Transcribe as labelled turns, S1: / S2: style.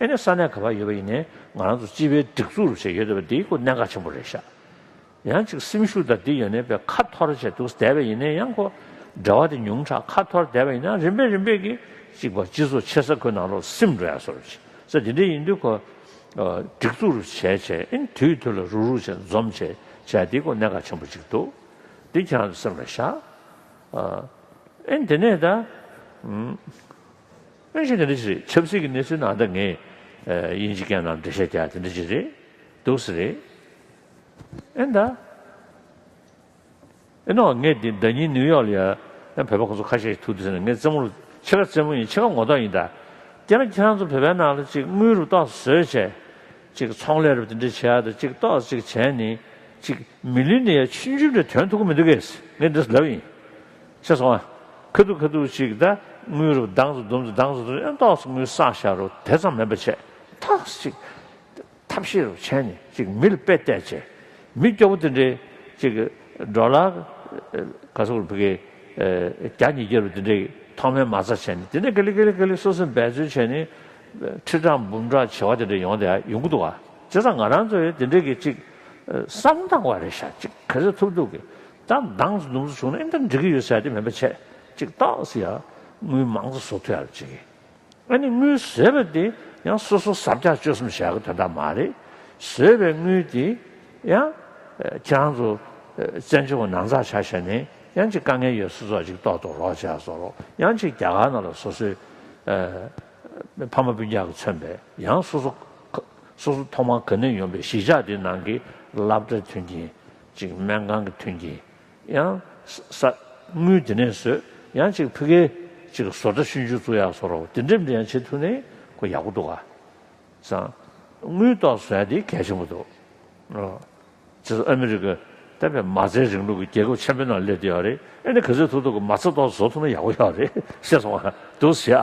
S1: ཨེ་ནས་ས་གནས་ག་པར་ཡོད་པ་ཡིན་ནའི་ང་རང་ཚོ་སྤྱི་པའི་སྒྲིག་འཛུགས་རུ་བྱས་ཡོད་འདོད་པ་འདིའི་སྐོར་གནད་འགག་ཆེན་པོ་རེད་ཤག་ཡང་གཅིག་སེམས་ཤུགས་དང་འདི་ཡོ་ནས་པའི་ཁ་འཐོར་བྱས་འདུག་བསྡད་པ་ཡིན་ནའི་ཡང་ཁོ་འདྲ་བ་དེ་ཉུང་དྲགས་ཁ་འཐོར་བསྡད་པ་ཡིན་ནའང་རིམ་པས་རིམ་པས་ཀྱིས་གཅིག་པ་སྤྱི་ཚོགས་ཆེ་ས་ཁོ་ནང་ལོག་སེམས་འགྲོ་ཡག་སོར་བྱས་ས་དེ་འདྲའི་ཡིན་དུས་ཁོ་སྒྲིག་འཛུགས་རུ་བྱས་བྱས་ཨེ་ནས་དུས་དུས་ལ་རུག་རུག་བྱས་འཛོམས་བྱས་བྱས་འདིའི་སྐོར་གནད་འགག་ཆེན་པོ་གཅིག་འདུག་འདི་ཁྱེད་རང་ཚོས་སེམས་ལ་བཞག་ཨེ་ནས་དེ་ནས་ད། དངོས་གཞི་ག་འདྲི་ཞིག་རེད་ཆབ་སྲིད་ཀྱི་གནས་ཚུལ་ནང་ད་ངས་དབྱིན་ཇི་རྒྱ་ནག་འབྲེལ་བཤད་རྒྱག་དེ་འདྲི་ཅིག་རེད་སྡུག་ས་རེད་ཨེ་ད། ཨེ་ནོ་ངས་དེ་ཟླ་གཉིས་ནིའུ་ཡོག་ལ་ཡ་ཡང་བོད་པ་ཁོང་ཚོ་ཁ་ཤས་ཤིག་ཐུག་དུས་ཟེར་ནས་ངས་རྩེད་མོ་རུ་ཕྱེད་ཀ་རྩེད་མོ་ཡིན་ཕྱེད་ཀ་ངོ་ཐོག་ཡིན་ད། དེ་ན་ཁྱེད་རང་ཚོ་བོད་པའི་ནང་ལ་ཅིག་དངུལ་རུ་གཏོགས་སུ་བཟོས་བྱས་ཅིག་ཚོང་ལས་རུ་དེ་འདྲི་བྱས་ད་ཅིག་གཏོགས་སུ་ཅིག་བྱས་ནི་ཅིག་མི་ལུས་ནི་ཡ་ཆུན་ཆུན་འདྲ་དོན་ཐུག་གི་མི་འདུག་གས་ངས་འདི་ལབ་ཡིན། ཞེས་སོགས། ཁ་ཐུག་ཁ་ཐུག་ཅིག་ད་ངུས་རོ་གདངས་སུ་དུམ་དུ་གདངས་སུ་དུམ་གཡོན་ཐོག་སུ་ངུས་སྲ་བཞག་རོ་དེ་ཙམ་མེད་པར་བྱས། ཐག་ཅིག། ཐབས་ཤེས་རུ་བྱས་ནས་ཅིག་མི་ལ་དཔེ་བལྟས་བྱས། མི་སྐྱོ་བོ་དེ་འདྲས་ཅིག་འགྲོ་ལ། ག་སོག་རུ་བུ་གའི་རྒྱ་ཉིས་བརྒྱ་རུ་དེ་འདྲས་ཐོག་མའི་མ་རྩ་བྱས་ནས་དེ་འདྲས་ཀ་ལི་ཀ་ལི་ཀ་ལི་སོ་སོས་འབད་བརྩོན་བྱས་ནས། ཁྲི་ཕྲག་འབུམ་ཕྲག་བྱེ་བ་དེ་འདྲས་ཡོང་དེ་ཡོང་གི་འདུག་བ། བྱས་ཙང་ང་རང་ཚོས་དེ་འདྲས་ཀྱི་ཅིག་བསམ་སྟངས་བ་རེ་བཞག་ཅིག་ག་ཚོད་ཐུབ་ཐུབ་ཀྱིས་ད་འདང་སུ་འདུམ་སུ་བྱུང་ན་ཨེ་འདིར་འགྲིག་གི་ཡོད་ཟེར་ཏེ་མེད་པ་ཆད་ཅིག་བཏགས་ཟེར་ཡ་དངུལ་མང་ཙ་བཟོ་ཐུ་ཡ་རེད་ཅེས་ཨེ་ནས་དངུལ་ཟོས་པ་དེ་ཡང་སོ་སོ་ཟབ་རྒྱག་སྤྱོད་གསུམ་བྱ་གི་དོན་དག་མ་རེད་ཟོས་པའི་དངུལ་དེ་ཡང་ཁྱེད་རང་ཚོ་བཙན་བྱོལ་བ་ནང་ཚགས་ཆ་བྱས་ནས་ཡང་ཅིག་དཀའ་ངལ་ཡོད་སུ་ཚོགས་ཅིག་གཏོགས་གཏོགས་རོགས་བྱས་ཟོ་རོགས་ཡང་ཅིག་རྒྱ་གར་ནང་ལ་སོ་སོའི་ཕ་མ་སྤུན་རྒྱག་གི་མཚོན་པས་ཡང་སོ་སོ་སོ་སོ་ཐོག་མར་ག་ནས་ཡོང་པའི་གཞིས་ཆགས་དེ་ནང་གི་ལབ་གྲྭ་མཐུན་རྐྱེན། ཅིག་སྨན་ཁང་གི་ཐུན་གྱིས་ཡང། ས། དངུལ་དེ་ནས་ཟོས། ཡང་ཅིག་ཕི་གའི། ཅིག་བཟོ་གྲྭ་ཤུན་ཆུ་བཙུགས་ཡག་བཟོ་རོགས་དེ་འདྲེ་འདྲེ་ཡང་བྱེད་ཐུ་ནི་ཁོ་ཡག་པོ་འདུག་ག། བཟང། དངུལ་ཏོག་བཟོ་ཡ་དེ་གལ་ཆེན་པོ་འདུག། རོགས། བྱེད་ཟོ་ཨ་མི་རི་ཀ། ཏེ་བས་མ་རྩའི་རིང་ལུགས་ཀྱི་རྒྱལ་ཁབ་ཆེན་པོའི་ནང་སླེབས་ཐུ་ཡག་རེད་ཨེ་ནི་ག་ཚོད་ཐུ་ཐུག་གི་མ་རྩ་ཏོག་བཟོ་ཐུ་ན་ཡག་པོ་ཡག་རེད་ཤེས་སོང་བ་འདུག་བཟོ་ཡ།